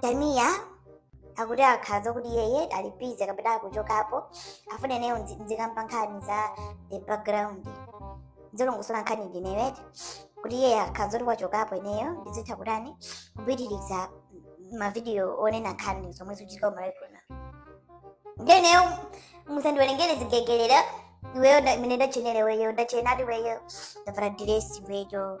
tamiya akuti akhala zakuti iyeyo ali busy kapena akuchokapo akufuna ineyo ndzi- ndzikamba nkhani za the background ndizilongosola nkhani ndizolowere kuti iye akhala zoti wachokapo ineyo ndizitha kutani kupitiriza mavidiyo onena nkhani zomwe zikuchitika kumalawi kuno nde ineyo musandiwerengere zigegelera iweyo nda- imene ndatchenera iweyo ndatchenatu iweyo ndavala diresi iweyo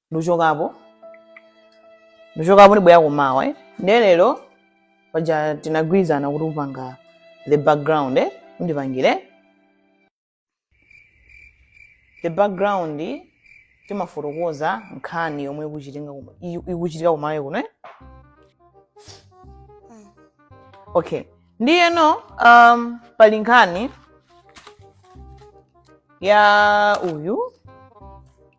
ndichokapo ndichokapo ndibwera kumawa eh? ndiye lero paja tinagwirizana kuti upanga the background eh? undipangire the background tikafotokoza nkhani yomwe ikuchitika kuno- i- ikuchitika kumalawi kuno eh? okay ndiyeno um, pali nkhani ya uyu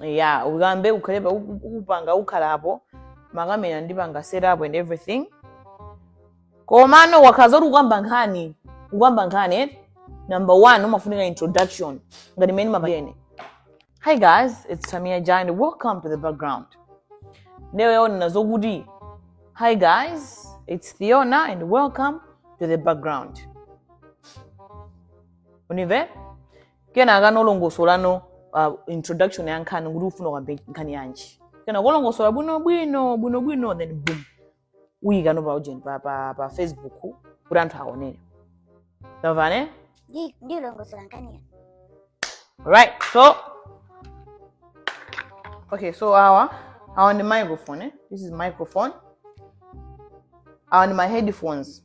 ya uyikambe ukhale pa- uku- ukupanga ukhala apo makamera ndipanga set up and everything komano wakhala zoti ukamba nkhani ukamba nkhani eh? number one umafunika introduction ngati mmene ndimapangira ine hi guys it's tamia ja and welcome to the background ndiye iwe unena zokuti hi guys it's theona and welcome to the background undimve kenakano ulongosolano uh, introduction ya nkhani kuti ufuna ukambe nkhani yanji kenako ulongosola bwinobwino bwinobwino then boom uyikano pa ujeni pa, pa, pa facebook kuti anthu aonere tamvana Ndi- ndilongosola nkhaniyo right so okay so awa awa ndi microphone eh? this is microphone awa ndi ma headphones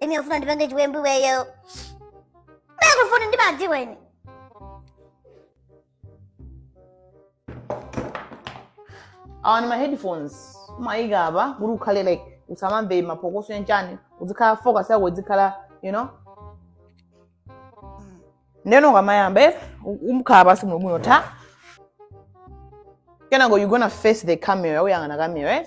Tamia ufuna undipange chiwembu iweyo. Beko funa ndimadziwa ine. awa ndi ma headphones umayika apa kuti ukhale like usamamve maphokoso yanchani uzikhala focus yako izikhala you know ndeno ukamayamba eh, u- umkhala pansi muno muno ta kenako you gonna face the camera uyang'ana camera eh?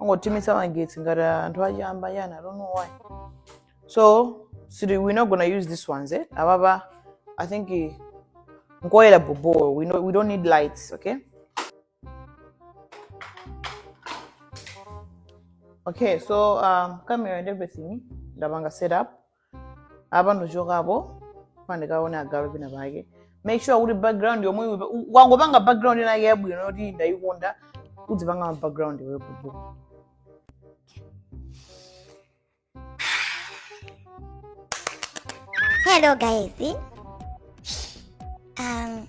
angotimitsa magetsi ngati anthu achiyamba yani i don't know why so siri we're not gonna use this ones eh? apapa i think eh, nkoyera bobo we, no, we don't need lights okay okay so um, camera and everything ndapanga set up apa ndichokapo pandikaone agalu pena pake make sure kuti background yomwe iwe- u- wangopanga background inake yabwino yoti ndayikonda udzipanga ma background iwe kutu Hello guys. Um,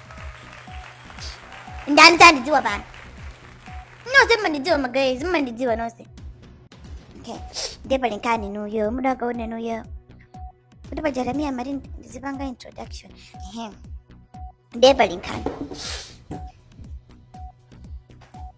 ndani sandidziwa pano nonse mmandidziwa ma guys mmandidziwa nonse okay ndiye pali nkhani ndi uyo muda wakaona ndi uyo kuti pa jeremia mari ndizipanga introduction ehe ndiye pali nkhani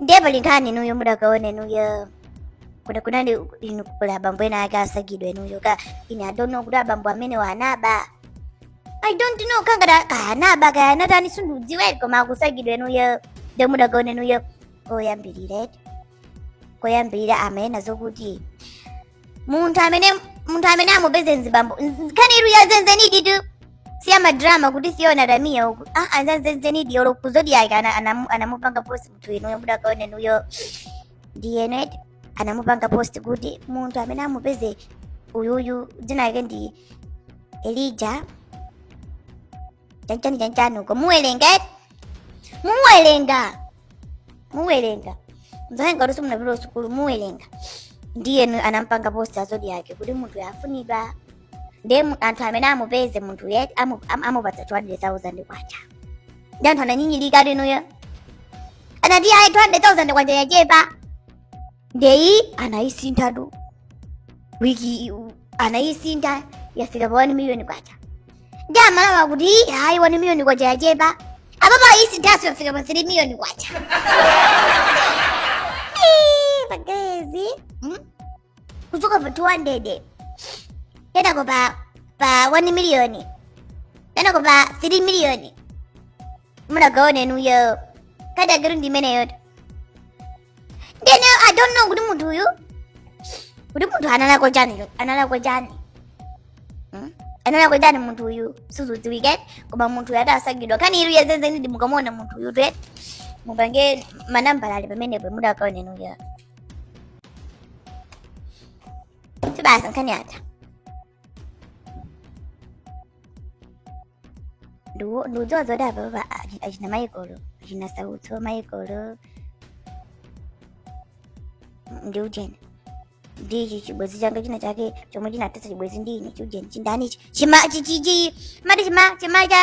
ndiye pali nkhani inuyo mudakaone inuyo kuti kunali inu kuli abambo ena ake asakidwa inuyo ka ine I don't know kuti abambo amene wanaba i don't know kangati kaya anaba kaya anatani sindikudziwa eti koma akusakidwa inuyo ndiye mudakaone inuyo koyambirira eti koyambirira amanena zokuti munthu amene munthu amene amupeze mzibambo nkhaniyi ndi yazenizenidi tu si ya madrama kuti Fiona tamiya uku ah ndi zazenizenidi olo ku Zodiak ana- anamu- anamupanga post munthu inuyo mudakaone inuyo ndiyeno anamupanga post kuti munthu amene amupeze uyuyu dzina lake ndi Elijah chanchani chanchani uko muwelenga eti muwelenga muwelenga mzanga kuti simunapita kusukulu muwelenga ndiyeno anampanga post a Zodiak kuti munthu yafunidwa ndiye mu- anthu amene amupeze munthuyu amu- am- amupatsa 200,000 kwacha ndiye anthu ananyinyirika eti inuyo anati ayi 200,000 kwacha yachepa ndiye anayisinthatu wiki anayisintha yafika pa 1 million kwacha ndiye Amalawi akuti Ii, ayi 1 million kwacha yachepa apapa ayisinthanso yafika pa 3 million kwacha Ii, pagezi Hmm? kuchoka pa 200 kenako pa pa 1 million kenako pa 3 million munakaone inuyo kadagiro ndimeneyoto Ndiyeno I don't know kuti munthu uyu. Kuti munthu analakwa chani cho? Analakwa chani? Hmm? Analakwa chani munthu uyu? Sizidziwika koma munthu uyu akusakidwa. Nkhaniyi ndi yazenizenidi mukamuona munthu uyutu. Mupange manambala ali pamenepo mudakaone inuyo. Sibasa nkhani ata. Ndu- ndikudziwa zoti apapa achi- achina Michael achina Sautso Michael ndi ujeni ndi ichi chibwezi changa china chake chomwe chinathetsa chibwezi ndi ine chiujeni chindani ichi chima chi- chi- chi- mati chima chima cha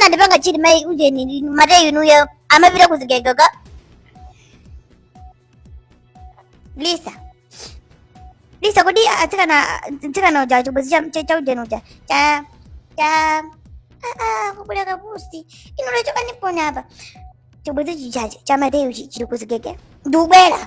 anandipanga chiri mai ujeni Mateyu inuyo amapita ku Zigege ka lisa lisa kodi atsikana mtsikana uja chibwezi cha ujeni uja cha cha kubula kapusi inuyo chokanipo apa chibwezi chichache cha Mateyu chiri ku Zigege ndikubwera